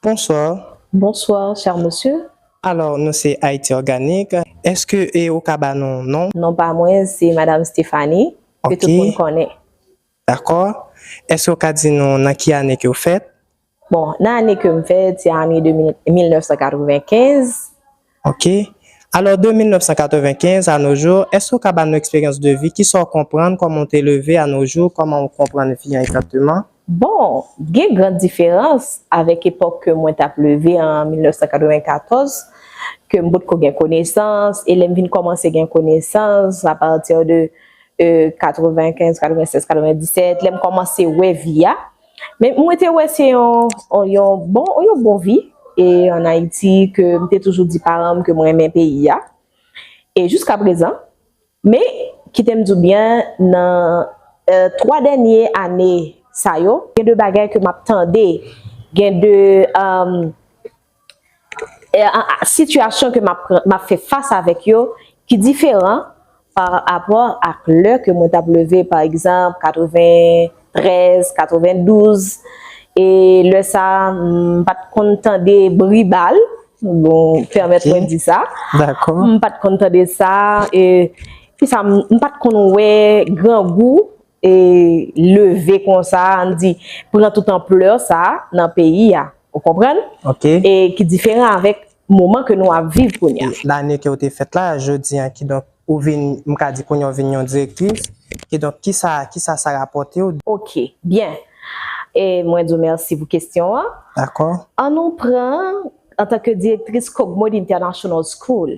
Bonsoir. Bonsoir cher monsieur. Alors nou se Haïti Organique. Eske e ou ka ba nou non. Non pa mwen se madame Stephanie ke tout moun konnen. Ok. D'accord. Eske ou ka di nou nan ki ane ke ou fèt? Bon, nan ane ke m fè, ti ane 1995. Ok. Alò, de 1995 a no jou, èske ou ka ba nou eksperyans de vi? Kisa ou konprann? Kòman ou te leve a no jou? Kòman ou konprann vi an egzakteman? Bon, gen gran diferans avèk epòk ke mwen t ap leve an 1994, ke m potko gen konesans, e lè m vin kòmanse gen konesans, apati de 95, 96, 97, lè m kòmanse wè vi a, Men mwen te wè se yon bon vi an Ayiti ke m te toujou di paran m ke m renmen peyi a e jiska prezan. Men kite m di w byen nan 3 dènye ane sa yo gen de bagay ke m ap tande, gen de. sitiyasyon ke m ap fè fas avèk yo ki diferan pa rapò ak lè ke mwen t ap leve pa egzanp 93, 92 e lè sa a m pa t konn tande bri bal bon pèmèt mwen di sa m pa t konn tande sa e m pa t konn wè grangou e leve konsa a, ann di, pran tout anpleur sa a nan peyi a. Ou konprann? Ok. E ki diferan avèk moman ke nou ap viv kounye a. Lane ke ou te fèt la, jodi a, ki donk, ou vin, m ka di kounye a ou vin yon direktris, ki donk, ki sa, ki sa sa rapòte ou? Ok. Byen. E mwen di w mèsi pou kesyon an. Dakò. An nou pran, antanke direktris Kogmod International School.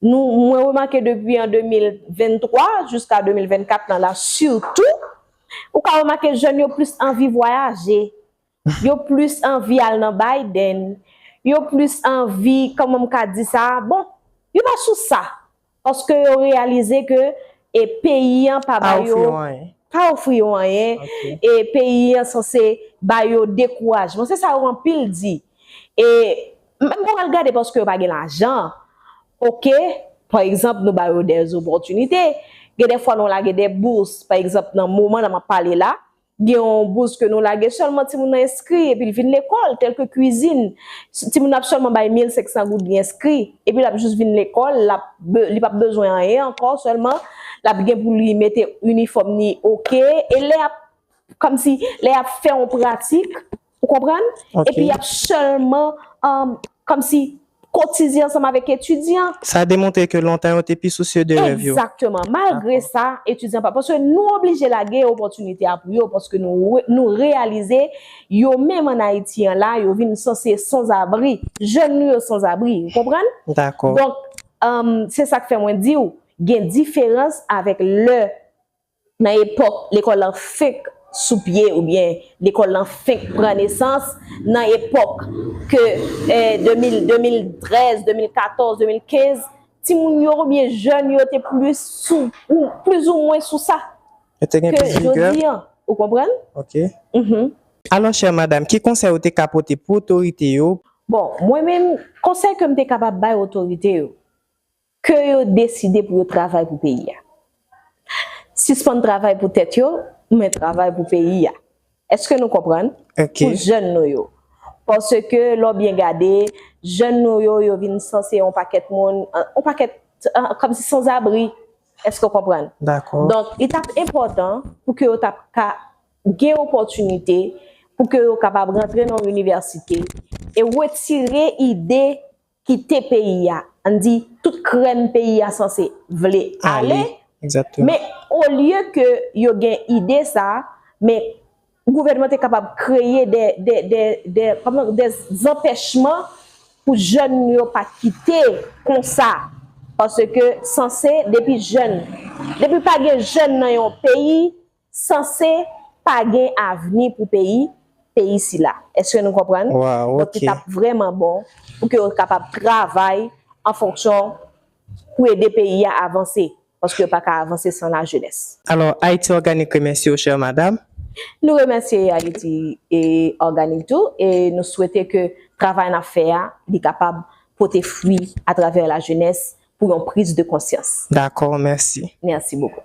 Nou mwen remake depi an 2023 jiska 2024 lan la sitou, ou ka remake jèn yo plis anvi vwayaje, yo plis anvi al nan Biden, yo plis anvi, kòman m ka di sa, bon, yo pa sou sa, paske yo reyalize ke e peyi an pa ba yo, pa ofri yo anyen, e peyi an sanse ba yo dekourajman, se sa yo anpil di, e M pa pral gade paske yo pa gen lajan ok pa egzanp nou ba yo de zopòtinite gen de fwa nou lage de bous pa egzanp nan moman la m ap pale la gen yon bous ke nou lage sèlman timoun nan enskri epi l vin lekòl tèlke kuizin timoun nan ap sèlman bay 1500 goud li enskri epi l ap jis vin lekòl l ap li p ap bezwen anyen ankò sèlman l ap gen pou li mete inifòm ni ok e lè y ap kòmsi lè y ap fè yon pratik Ou konprann? Epi y ap sèlman kòm si kotize ansanm avèk etidyan. Sa demontre ke lontan yo te pi sousye de rèv yo. Egzakteman. Malgre sa, etidyan pa. Paske nou oblije lage opòtinite a pou yo paske nou reyalize yo menm ann Ayiti an la, yo vin sanse sanzabri. Jèn nou yo sanzabri. Ou konprann? Dakò. Donk, se sa k fè mwen di ou gen diferans avèk lè Nan epòk lekòl lan fenk sou pye oubyen lekòl lan fenk pran nesans, nan epòk ke 2000, 2013, 2014, 2015, timoun yo oubyen jèn yo te plis sou, ou plizoumwen sou sa, Yo te gen ke plis vigè? jodi an. Ou konprann? Ok. Mh. Alò, chère madame, ki konsèy ou te ka pote pou otorite yo? Bon, mwen menm, konsèy ke m te kapab bay otorite yo, Ke yo deside pou yo travay pou peyi a. Sispann travay pou tèt yo, men travay pou peyi a. Eske nou konprann? Pou jèn nou yo. Paske lè w byen gade, jèn nou yo, yo vin sanse yon pakèt moun, yon pakèt, kòm si sanzabri. Eske w konprann? Donk, li t ap enpòtan pou ke yo ta ka gen opòtinite pou ke yo kapab rantre nan yon inivèsite e wetire ide kite peyi a, ann di tout krèm peyi a sanse vle ale, men olye ke yo gen ide sa, men gouvènman te kapab kreye de zanpèchman pou jèn yo pa kite konsa, paske sanse depi jèn, depi pa gen jèn nan yon peyi, sanse pa gen avni pou peyi peyi sila eske nou konprann donk ki tap vreman bon pou ke yo kapab travay an fonksyon pou ede peyi ya avanse paske yo paka avanse san la jenès. Alò Ayiti Òganik remèsye w chè madam. Nou remèsye Ayiti Òganik tou e nou swete ke travay nap fè ya li kapab pote fwi atravè la jenès pou yon priz de konsyans. Dakò mèsi. Mèsi bokou.